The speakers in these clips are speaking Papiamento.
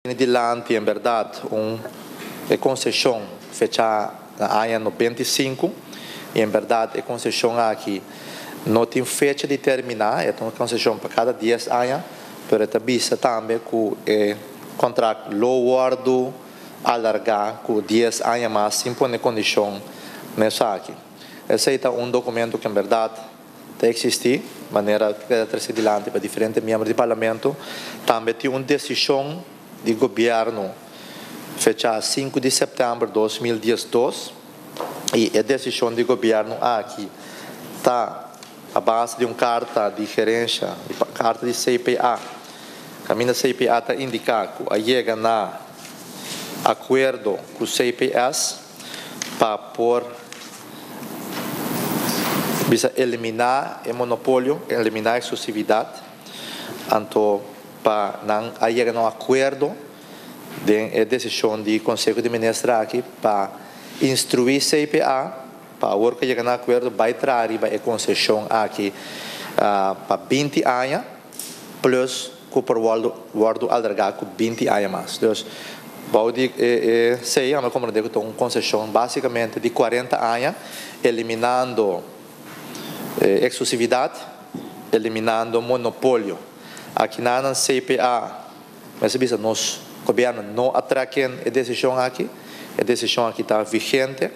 Bini dilanti en berdad un e conceshon fecha na aña nobenta i sinku y en berdad e conceshon aki no tin fecha di termina e ta un conceshon pa cada dies aña pero e ta bisa tambe cu e contract lo wordo alarga cu dies aña mas sin pone condicion na esaki esey ta un documento cu en berdad Ta existi manera p'e ta trece dilanti pa diferente miembro di Parlamento. Tambe tin un decision di Gobierno fecha sinku di september dos mil diesdos y e decision di Gobierno aki ta a base di un carta di gerencia, di carta di CPA. Caminda CPA ta indica cu a yega na acuerdo cu CPS. pa por bisa eliminá e monopolio, eliminá e exclusividad, anto pa nan a yega na un acuerdo den e decision di Conseho di Minister aki pa instruí CPA pa awor cu a yega na acuerdo bai traha riba e concesion aki pa binti aña. plus cu por wordo alarga cu binti aña mas. Dus, bou di esey anda comprende cu ta un concesion basicamente di cuarenta aña, eliminando exclusividad, eliminando monopolio. Aki nan CPA Mester bisa nos Gobierno no a tra ken e decision aki. E decision aki ta vigente.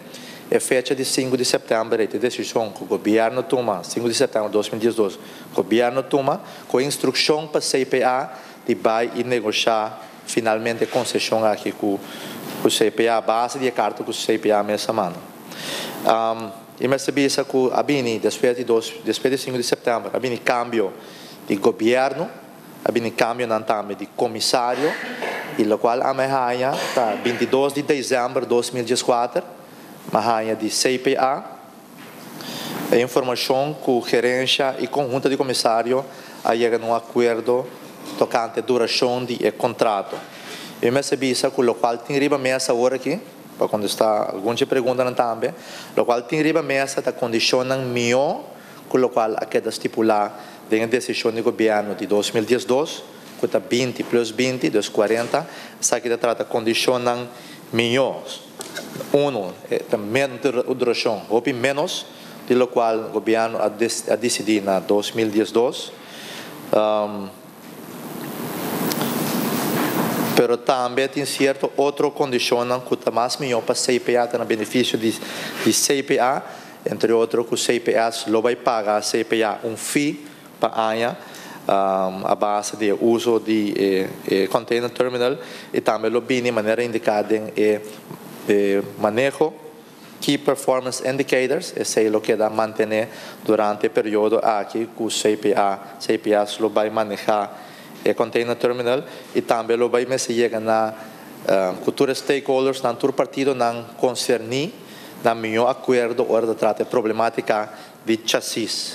E fecha di sinku di september ei ta e decision cu Gobierno tuma, sinku di september dos mil diesdos, Gobierno tuma cu e instruccion pa CPA di bay y negocia finalmente e concesion aki cu CPA base di e carta cu CPA mes a manda. Y mester bisa cu a bini despues di dos, despues di sinku di september, a bini cambio di Gobierno. A bini cambionan tambe di comisario y locual a mi haya ta bintidos di december dos mil dieskuater mi haya di CPA. E informacion cu gerencia y conhunto di comisario a yega na un acuerdo tocante duracion di e contrato. Yo mester bisa cu locual tin riba mesa awor aki, pa contesta algun dje preguntanan tambe, locual tin riba mesa ta condicionnan mihor cu locual a keda stipula den e decision di Gobierno di dos mil diesdos, cu ta binti plus binti, dus cuarenta, esaki ta trata condicionnan mijo, uno, e ta mender duracion, hopi menos di locual Gobierno a a dicidi na dos mil diesdos, pero tambe tin cierto otro condicionnan cu ta mas mijo pa CPA, ta na beneficio di CPA. Entre otro cu CPS lo bay paga CPA un fee pa aña a base di e uzo di e container terminal y tambe lo bini manera indica den e maneho Key Performance Indicators, esey lo keda mantene durante e periodo aki cu CPA, CPS lo bay maneha e container terminal y tambe lo bay mester yega na cu tur e stakeholdersnan, tur partidonan concerni. na mió akuerdo ora ta trata e problemátika di chasis.